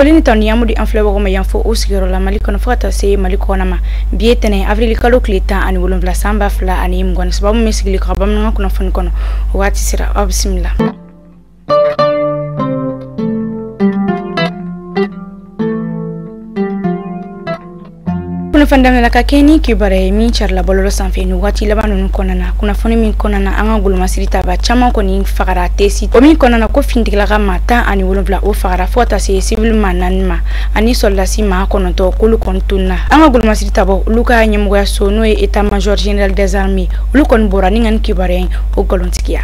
foli ni tanuni an b'u di an filɛbagaw ma yan fo u sigiyɔrɔ la mali kɔnɔ fo ka taa se mali kɔnɔ ma bi ye tɛnɛn avrili kalo tile tan ani wolonwula san ba fila ani mugan ni saba aw min sigilen ka bamanankan kunnafoni kɔnɔ o waati sera aw bisimila kunnafoni daminɛ na ka kɛɲɛ ni kibaruya ye min carila bɔlɔlɔ sanfɛ nin waati laban ninnu kɔnɔna na kunnafoni min kɔnɔna na an ka golomasiri tabaa caman kɔni fagara tesi o min kɔnɔna na ko finitigilaka maa tan ani wolonwula o fagara fo ka taa se sivili maa naani ma ani sɔrɔdasi maa kɔnɔntɔn k'olu kɔni tununa an ka golomasiri tabaaw olu ka ɲɛmɔgɔya so n'o ye état major général des armées olu kɔni bɔra ni ka nin kibaruya in o galontigiya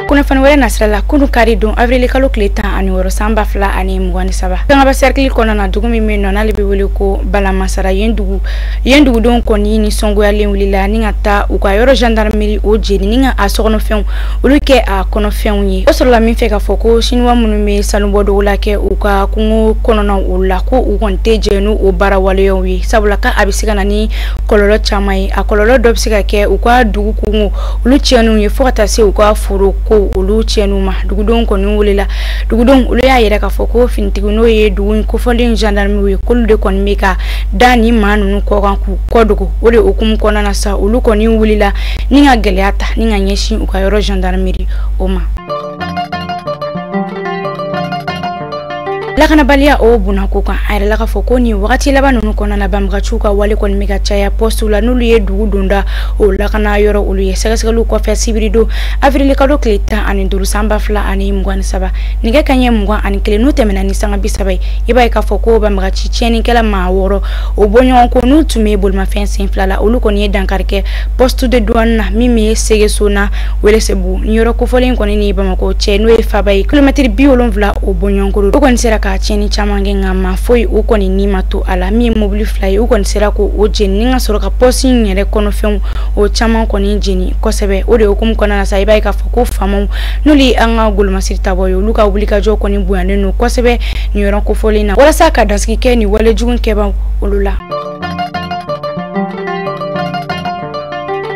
kunnafoni wɛrɛ nasira la kunu kari don avrili kalo tile tan ani wɔrɔ san ba fila ani mugan ni saba kangaba sɛrikili kɔnɔna na dugu min bɛ nɔ n'ale bɛ wele ko balamasara yen dugudenw kɔni ni sɔngoyalen wulila ni ka taa u ka yɔrɔ gendarmerie o jeni ni ka a sokɔnɔfɛnw olu kɛ a kɔnɔfɛnw ye o sɔrɔla min fɛ k'a fɔ ko siniwa minnu bɛ sanubɔ dogo la kɛ u ka kungo kɔnɔnaw olu la ko u kɔni tɛ jɛn n'u o baara waleyaw ye sabula ka a bɛ se ka na ni kɔlɔlɔ caman ye a kɔlɔlɔ dɔ bɛ se ka kɛ u ka dugu kungo olu tiɲɛniw ye fo ka taa se u ka foro ko olu tiɲɛniw ma dugudenw kɔni wulila dugudenw olu y'a yira k'a fɔ ko finitigi n'o ye dugu in kofɔlen gendarmew ye k'olu de kɔni bɛ ka da nin maa ninnu kɔ kan k'u ko dogo o de hukumu kɔnɔna na sa olu kɔni wulila ni ka gɛlɛya ta ni ka ɲɛsin u ka yɔrɔ gendarmerie o ma lakanabaliya o bonna ko kan a yirala k'a fɔ ko nin wagati laban nunu kɔnɔna na banbagaciw ka wale kɔni bɛ ka caya pɔsiw la n'olu ye dugu donda o lakana yɔrɔ olu ye sɛgɛsɛgɛliw kɔfɛ sibiridon avirilkalo tile tan ani duuru san ba fila ani mugan ni saba nɛgɛ kaɲɛ mugan ani kelen n'o tɛmɛna ni sanga bi saba ye i b'a ye k'a fɔ ko banbagaci tiɲɛnikɛla maa wɔɔrɔ o bɔɲɔgɔnko n'u tun bɛ bolimafɛn sen fila la olu kɔni ye dankari kɛ poste de douane na min bɛ segesona Welesebugu nin yɔrɔ kofɔlen in kɔni ni Bamakɔ cɛ n'o ye faaba ye kilomɛtiri bi wolonwula o bɔɲɔgɔnko don u kɔni sera ka tiɲɛni caman kɛ nka maa foyi o kɔni ni ma to a la min ye mobili fila ye u kɔni sera k'o jeni ni ka sɔrɔ ka pɔsi in yɛrɛ kɔnɔfɛnw o caman kɔni jeni kosɛbɛ o de hukumu kɔnɔna na sa i b'a ye k'a fɔ ko faamaw n'olu ye an ka golomasiri tabaaw ye olu ka wulikajɔ kɔni bonyanen don kosɛbɛ nin yɔrɔ kofɔlen na walasa ka dasigi kɛ nin walejugu kɛbaaw olu la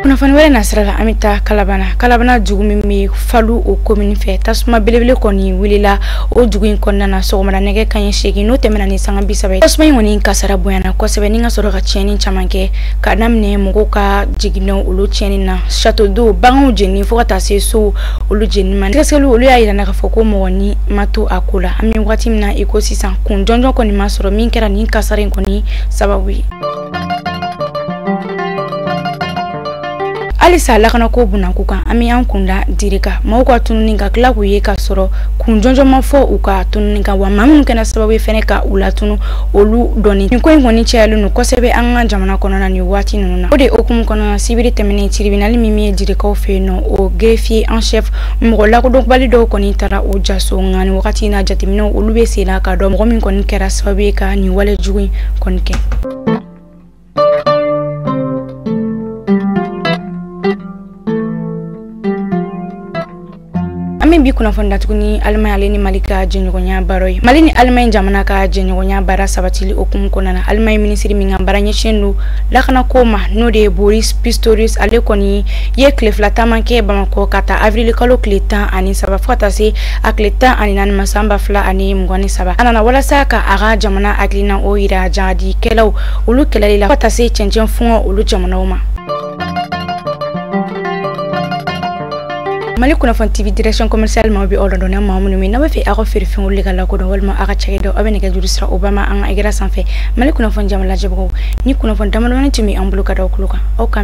kunnafoni wɛrɛ nasira la an bɛ taa kalabana kalabana dugu min bɛ falu o komini fɛ tasuma belebele kɔni wulila o dugu in kɔnɔna na sɔgɔmada nɛgɛ kaɲɛ seegin n'o tɛmɛna ni sanga bi saba ye tasuma in kɔni kasara bonyana kosɛbɛ ni ka sɔrɔ ka tiɲɛni caman kɛ ka daminɛ mɔgɔw ka jiginɛw olu tiɲɛni na château d'eau baganw jenini fo ka taa se sow olu jenini ma sɛgɛsɛgɛliw olu y'a yira an na k'a fɔ ko mɔgɔ ni ma to a ko la an bɛ waati min na i ko sisan kun jɔnjɔn kɔni ma sɔrɔ min kɛra nin kasara in kɔni sababu ye halisa lakana ko bunanku kan an bɛ an kun da dire kan maaw ka tununi ka tila k'u ye k'a sɔrɔ kun jɔnjɔn ma fɔ u ka tununi kan wa maa minnu kɛra sababu ye fɛnɛ ka u latunu olu dɔnni nin ko in kɔni cayalen don kosɛbɛ an ka jamana kɔnɔna nin waati ninnu na o de hukumu kɔnɔna sibiri tɛmɛnen tiribinali min bɛ direkaw fɛ yen nɔ o greffier en chef mɔgɔ lakodɔnbali dɔw kɔni taara o ja so nka nin wagati in na jateminɛw olu bɛ senna k'a dɔn mɔgɔ min kɔni kɛra sababu ye ka nin wale jugu in kɔni kɛ an bɛ bi kunnafoni datugu ni alimani ale ni mali ka jɛɲɔgɔnya baara ye mali ni alimani jamana ka jɛɲɔgɔnya baara sabatili hukumu kɔnɔna alimani minisiri min ka baara ɲɛsinnen don lakanako ma n'o de ye boris pistorius ale kɔni ye tile fila taama kɛ bamakɔ k'a ta avrili kalo tile tan ani saba fo ka taa se a tile tan ani naani ma san ba fila ani mugan ni saba a nana walasa ka a ka jamana hakilina o yira jahadikɛlaw olu kɛlɛli la fo ka taa se cɛncɛn fuga olu jamanaw ma mali kunnafoni tv direction commercial maaw bɛ aw ladɔnniya maa minnu min n'aw b'a fɛ aw ka feerefɛnw olu ka lakodɔn walima aw ka cakɛdaw aw bɛ nɛgɛjuru sira o ba ma an ka ekran sanfɛ mali kunnafoni jamalajɛbagaw nin kunnafoni damadamani tun bɛ an bolo ka da aw tulo kan aw ka